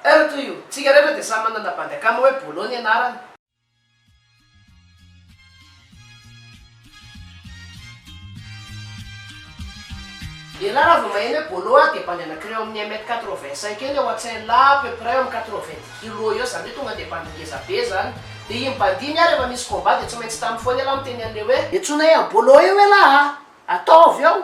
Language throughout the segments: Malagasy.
Heure to you! Tsika rehetra dia samy manana bandy akama hoe Bolo ny anarany. Elah raha vao maheno hoe Bolo aho dia bandy anakireo amin'ny un mètre quatre vingt cinq eny ao an-tsain lah à peu près eo amin'ny quatre vingt dix kilos eo izany hoe tonga dia bandy ngeza be izany. Dia iny bandy iny ah rehefa misy combat dia tsy maintsy tamy foana elah miteny an'ilay hoe. Entsoina eo Bolo eo elah ah! Ataovy eo!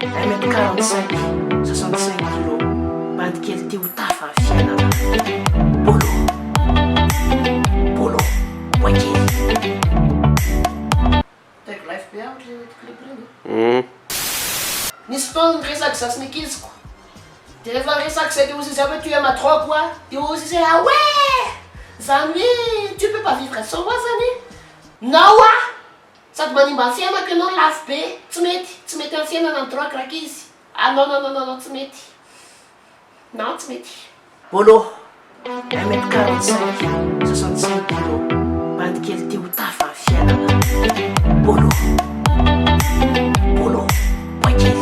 Iray mètre quarante cinq, soixante cinq kilos, bandy kely ity ho tafa fianarana. Bolo, bolo, boay kely. Tag life be amiko ireny clip ireny. Nisy fotoana niresaka za sy ny ankiziko de rehefa resaka zay de hozy izy avy tu es ma drogue wa de hozy izy hoe ah ouais! zany hoe tu peux pas vivre sans moi zany na wa! Sady manimba fiainako ianao lafo be tsy mety tsy mety am fiainana ny drogue rankizy ah non non non non tsy mety non tsy mety. Bolo, un mètre quarante cinq, soixante cinq kilo, bady kely te ho tafa ny fiainana. Bolo, bolo, bois kely.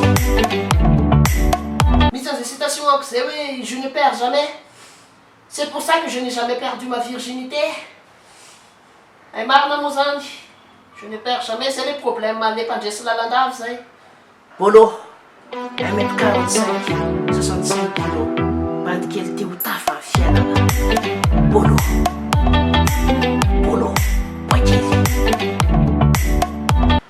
Misy an'izay citation amiko izay hoe je ne perds jamais, c'est pour ça que je n'ai jamais perdu ma virginité. Hay marina moa zany, je ne perds jamais, zay le problème anle mpandresy lalandava zay, bolo, un mètre quarante cinq, soixante cinq kilos, bandy kely te ho tafa ny fiainana, bolo, bolo, boay kely.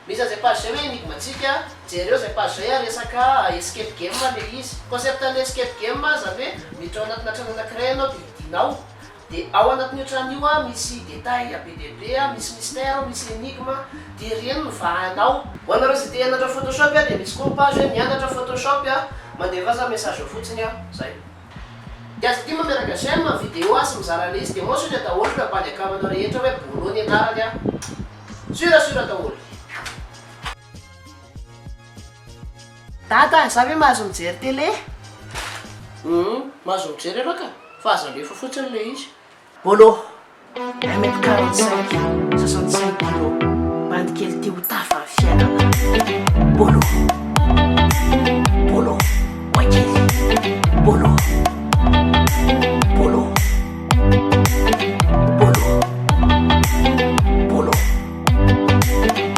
Miza zay page zay hoe enigme tsika, jereo zay page zay a resaka escape game le izy, concept anle escape game zany hoe miditra ao anatina trano anakiray ianao de hidinao, Dia ao anatin'io trano io a misy détails a be dia be a, misy mystère, misy énigme, dia ireny no vahanao. Ho anareo izay te hianatra photoshop a dia misy koa ny page hoe mianatra photoshop a, mandefa aza message ao fotsiny a, zay. Dia aza adino mameraka j'aime, vidéo a sy mizara an'ilay izy dia mentionner daholo ireo bandy account nao rehetra hoe Bolo ny anarany a. Sûr sûr daholo. Dada, za ve mahazo mijery télé? Humm, mahazo mijery ianao ka, fa aza alefa fotsiny ilay izy. Bolo, un mètre quarante cinq, soixante cinq kilos, bandy kely tia ho tafa ny fiainana. Bolo, bolo, boay kely. Bolo, bolo, bolo, bolo.